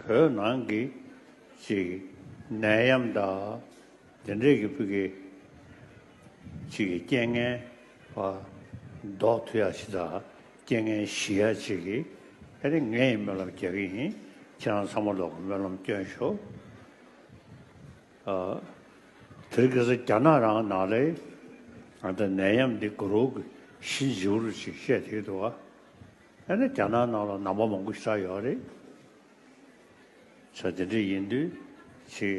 བོད་ནང་གི་ཅིག་ནད་ཡམས་དག་དེ་འདྲས་ཀྱི་བུ་གའི་ཅིག་གི་རྐྱེན་ངན་བ་ལྡོག་ཐུ་ཡ་ཞི་དག་རྐྱེན་ངན་ཞི་ཡ་ཅིག་གི་ཨེ་རེད་ངས་སྨོན་ལམ་རྒྱག་གི་ཡིན་ཁྱེད་རང་ཚང་མ་ལོག་གི་སྨོན་ལམ་བསྐྱོན་ཤོག་དེར་གི་ས་རྒྱ་ནག་རང་ནག་ལས་ཨ་ད་ནད་ཡམས་འདི་དགུ་རོག་གི་ཤི་འཇིའུ་རུ་ཅིག་བཤད་དེ་གི་འདུག་ཨ། ཨ་ནི་རྒྱ་ནག་ནང་ལ་ནང་པ་མང་པོ་ཞིག་ཆགས་ཡོད་རེད། བྱ་དེ་འདྲ་ཡིན་དུས་ཆེ་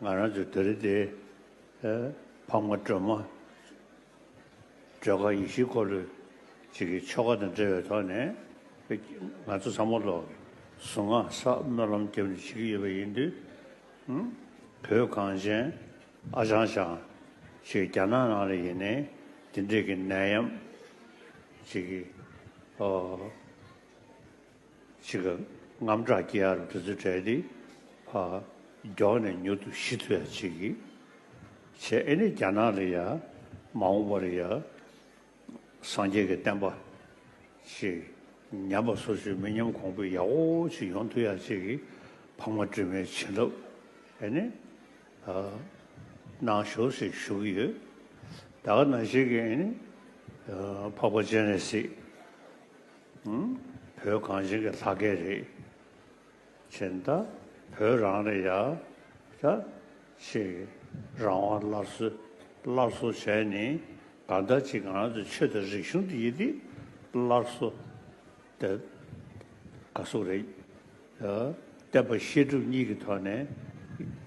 ང་རང་ཚོའི་དེ་རི་དེ་ཕག་མ་སྒྲོལ་མ་སྒྲོལ་དཀར་ཡེ་ཤེས་འཁོར་ལོས་བྱེད་ཀྱི་ཆོ་ག་དང་འབྲེལ་བའི་ཐོག་ནས་ང་ཚོ་ཚང་མ་ལོག་གི་གཟུངས་སྔགས་ས་སྨོན་ལམ་རྒྱབ་ནས་བྱེད་ཀྱི་ཡོད་པ་ཡིན་དུས། བོད་གངས་ཅན་ཨ་ཞང་ཞང་ཞིག་རྒྱ་ནག་ནང་ལ་ཡིན་ནའི་དེ་འདྲས་ཀྱི་ནད་ཡམས་བྱེད་ཀྱི། ཕྱིས་ཀྱི་རྔམ་སྐྲག་སྐྱི་ཨར་འབྲུ་ཚོད་གྲལ་འདི། མགྱོགས་ནས་མྱུར་དུ་ཞི་ཐུ་ཡ་བྱེད་ཀྱི། བྱེད་ཨེ་ནི་རྒྱ་ནག་ལ་ཡ། མ་འོངས་པར་ཡ། སངས་རྒྱས་ཀྱི་བསྟན་པ། ཞེས། ཉམས་པ་སོ་སོའི་མི་ཉམས་གོང་འཕེལ་ཡག་པོ་ཞིག་ཡོང་ཐུ་ཡ་བྱེད་ཀྱི། འཕགས་མ་དྲི་མེད་བྱིན་རླབས། ཨེ་ནི། ནང་ཞུགས་སུ་ཞུགས་ཀྱི་ཡོད། ད་ག་ནང་ཞིག་གིས་ནི་འཕགས་པ་ཅན་རེད་སྲིད། བོད་གངས་ཅན་གྱི་ལྷ་སྐལ་རེད། ཅེས་ད་བོད་རང་ནས་ཡ་ད་ཅིག་རང་དབང་སླར་གསོ་སླར་གསོ་བྱས་ནས་ག་ད་ཅིག་གང་དུ་ཆོས་དང་རིག་གཞུང་འདི་ཡི་ཏིག་སླར་གསོ། དེ་ག་གཟུགས་རེད། བསྟན་པ་བཤད་སྒྲུབ་གཉིས་ཀྱི་ཐོག་ནས་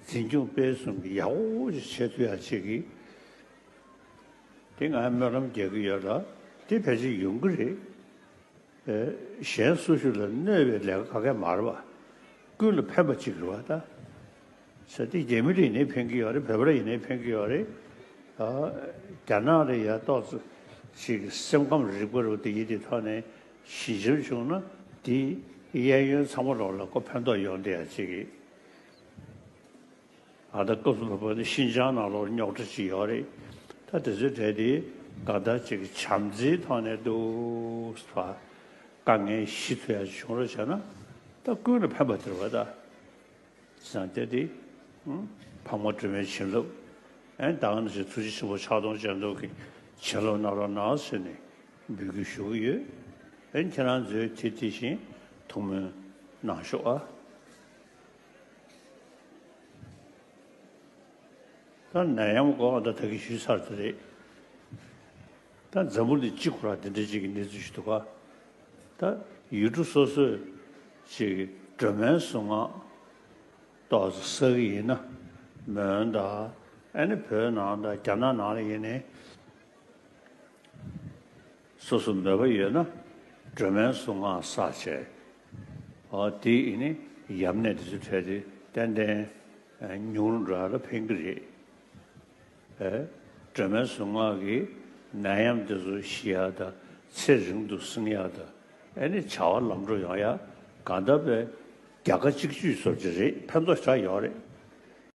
འཛིན་སྐྱོང་སྤེལ་གསུམ་གྱི་ཡག་པོ་བྱེད་ཐུབ་ཡག་བྱེད་ཀྱི། དེ་ང་སྨོན་ལམ་རྒྱག་གི་ཡོད་ལ་དེ་ཕལ་ཆེར་ཡོང་གི་རེད། གཞན་སུ་ཞིག་ལ་གནོད་པའི་ལས་ཀ་ག་གེ་མ་རེད་པ། ཀུན་ལ་ཕན་པ་གཅིག་རེད་པ་ད། ཟེར་ཏེ་རྒྱ་མི་རིགས་ནས་ཕན་གྱི་ཡོད་རེད་བོད་པ་རིགས་ནས་ཕན་གྱི་ཡོད་རེད། རྒྱ་ནག་རེད་ཡ་ཏོག་ཙི་ཞིག་སེམས་ཁམས་རིག་པ་རུ་དེ་ཡིད་དེ་ཐོག་ནས་ཞི་འཇམ་བྱུང་ན་དེ་གཡས་གཡོན་ཚང་མ་རོགས་ལ་ཀོ་ཕན་ཐོག་ཡོང་དེ་ཡ་གཅིག་གི་ཨ་ད་ཀོ་བོད་པ་ནི་ཤིན་ཅང་ནང་ལོག་རྙོག་དྲ་ཅིག་ཡོད་རེད་ད་དེ་ཚོའི་གྲས་དེ་ག་ད་ཅིག་བྱམས་བརྩེའི་ཐོག་ནས་འདུག་བ་དཀའ་ངལ་ཞི་ཚུལ་ཡ་བྱུང་རོགས་བྱས་ན་ད་ཀུན་ལ་ཕན་པ་དེར་བ་ད། སངས་རྒྱས་ཏེ། ཕག་མོ་དྲི་མེད་བྱིན་རླབས་ཨེ། བདག་ནི་ཞེས་ཐུགས་རྗེ་ཆེན་པོ་ཕྱག་སྟོང་སྤྱན་སྟོང་གི་བྱིན་རླབས་རྣམ་རང་སྣང་སྲིད་ནས་འབུལ་རྒྱུ་ཞུ་གི་ཡོད། ཨེ་ཁྱེད་རང་ཚོའི་དེ་དེ་བཞིན་ཐུགས་སྨོན་གནང་ཤོག་ཨ། ད་ནད་ཡམས་འགོག་ཨ་ད་ད་གིས་ཞུས་ཚར་དེ་རེད། ད་འཛམ་བུ་ནི་གཅིག་གོ་ར་འདི་འདྲ་གཅིག་གི་གནས་ཚུལ་ཞིག་འདུག་ག་ད་ཡུལ་གྲུ་སོ་སོས་ཅིག་སྒྲོལ་མའི་གཟུངས་སྔགས་གཏོགས་ས་ས་གི་ཡིན་ན་མོན་ད་ཨ་ནི་བོད་ནང་ད་རྒྱ་ནག་ནང་ལ་ཡིན་ནའི་སོ་སོ་མོས་པ་ཡོད་ན་སྒྲོལ་མའི་གཟུངས་སྔགས་ས་བྱས་ཨ་དེ་ཡི་ནི་ཡམས་ནད་འདི་ཚོ་འཕྲད་དེ་ཏན་ཏན་ཉུང་རུ་འགྲོ་ཡ་ལ་ཕན་གི་རེད། སྒྲོལ་མའི་གཟུངས་སྔགས་ཀྱིས་ནད་ཡམས་འདི་ཚོ་ཞི་ཡག་དང་ཚེ་རིང་དུ་སྲིང་ཡག་དང་ཨེ་ནི་བྱ་བ་ལམ་འགྲོ་ཡོང་ཡག་གང་ལྟ་བས་རྒྱ་ཁ་གཅིག་གཅུས་བཟོ་རྒྱུ་རེད་ཕན་ཐོག་ཆགས་ཡོང་རེད།